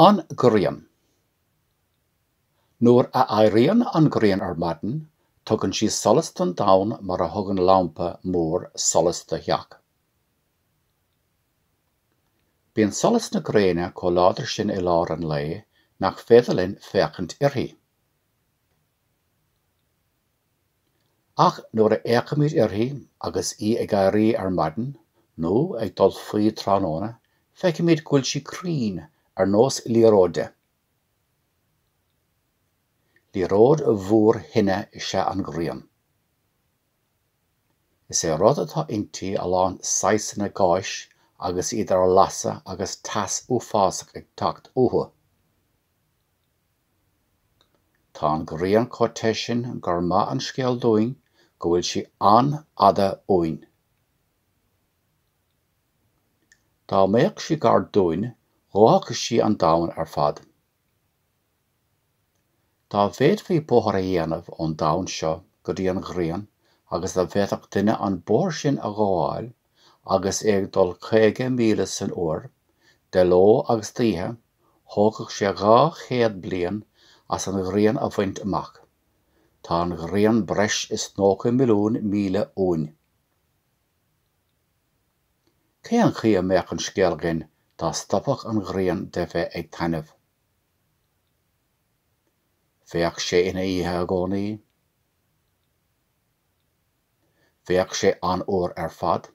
An Ghrian. Nuair a éiríonn an ghrian ar maidin, tugann sí solas don domhan mar a thugann lampa mór solas do theach. Bíonn solas na gréine chomh láidir sin i lár an lae nach féidir linn féachaint uirthi. Ach nuair a fhéachaimid uirthi agus í ag éirí ar maidin, nó ag dul faoi tráthnóna, feicimid go bhfuil sí cruinn ar nós liathróide. Liathróid mhór thine is ea an ghrian. Is é rud atá inti a lán saghsanna gáis agus iad ar lasadh agus teas uafásach ag teacht uathu. Tá an ghrian chomh te sin gur maith an scéal dúinn go bhfuil sí an-fhada uainn. Dá mbeadh sí gar dúinn dhófadh sí an domhan ar fad. Dá bhféadfaí bóthar a dhéanamh ón domhan seo go dtí an ghrian agus dá bhféadfadh duine an bóthar sin a ghabháil, agus é ag dul caoga míle san uair, de ló agus d'oíche, thógfadh sé dhá chéad bliain as an ghrian a bhaint amach. Tá an ghrian breis is nócha milliún míle uainn. Cén chaoi a mbeadh an scéal againn dá stopfadh an ghrian de bheith ag taitneamh? Bheadh sé ina oíche i gcónaí. Bheadh sé an-fhuar ar fad.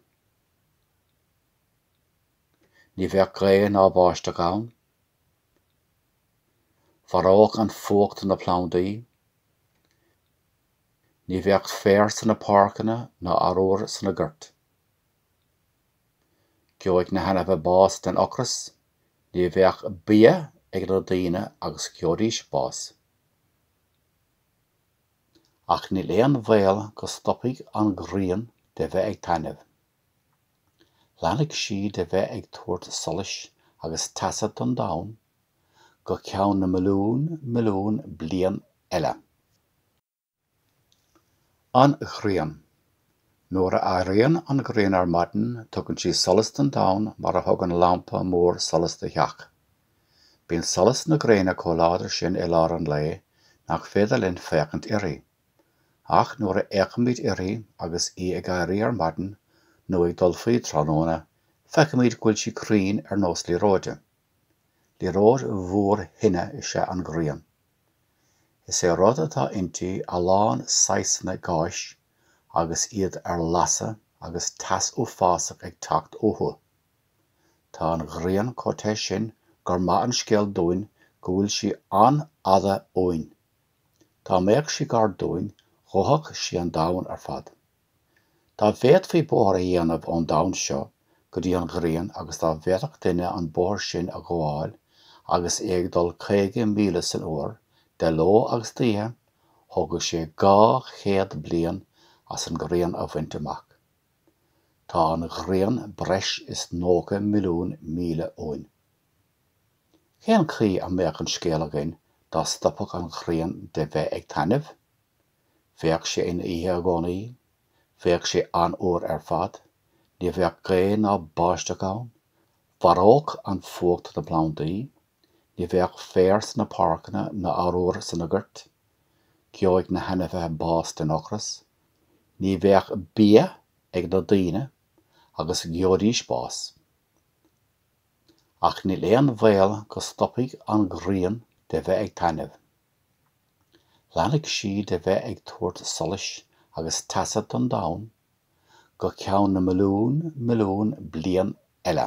Ní bheadh gaoth ná báisteach ann. Mharódh an fuacht na plandaí. Ní bheadh féar sna páirceanna ná arúr sna goirt. Gheobhadh na hainmhithe bás den ocras, ní bheadh bia ag na daoine agus gheobhaidís bás. ach níl aon bhaol go stopfaidh an ghrian de bheith ag taitneamh. Leanfaidh sí de bheith ag tabhairt solais agus teasa don domhan go ceann na milliún milliún bliain eile. An Ghrian. Nuair a éiríonn an ghrian ar maidin tugann sí solas don domhan mar a thugann lampa mór solas do theach. Bíonn solas na gréine chomh láidir sin i lár an lae nach féidir linn féachaint uirthi. Ach nuair a fhéachaimid uirthi agus í ag éirí ar maidin nó ag dul faoi tráthnóna, feicimid go bhfuil sí cruinn ar nós liathróide. Liathróid mhór thine is ea an ghrian. Is é rud atá inti a lán saghsanna gáis agus iad ar lasadh agus teas uafásach ag teacht uathu. Tá an ghrian chomh te sin gur maith an scéal dúinn go bhfuil sí an-fhada uainn. Dá mbeadh sí gar dúinn, dhófadh sí an domhan ar fad. Dá bhféadfaí bóthar a dhéanamh ón domhan seo go dtí an ghrian agus dá bhféadfadh duine an bóthar sin a ghabháil agus é ag dul caoga míle san uair, de ló agus d'oíche, thógadh sé dhá chéad bliain as an ngrian a bhaint amach. Tá an ghrian breis is 90 milliún míle uainn. Cén chaoi a mbeadh an scéal againn dá stopfadh an ghrian de bheith ag taitneamh? Bheadh sé ina oíche i gcónaí, bheadh sé an-fhuar ar fad, ní bheadh gaoth ná báisteach ann, mharódh an fuacht na plandaí, ní bheadh féar sna páirceanna ná arbhar sna goirt, gheobhadh na hainmhithe bás den ocras. ní bheadh bia ag na daoine agus gheobhaidís bás. Ach níl aon bhaol go stopfaidh an ghrian de bheith ag taitneamh. Leanfaidh sí de bheith ag tabhairt solais agus teasa don domhan go ceann na milliún milliún bliain eile.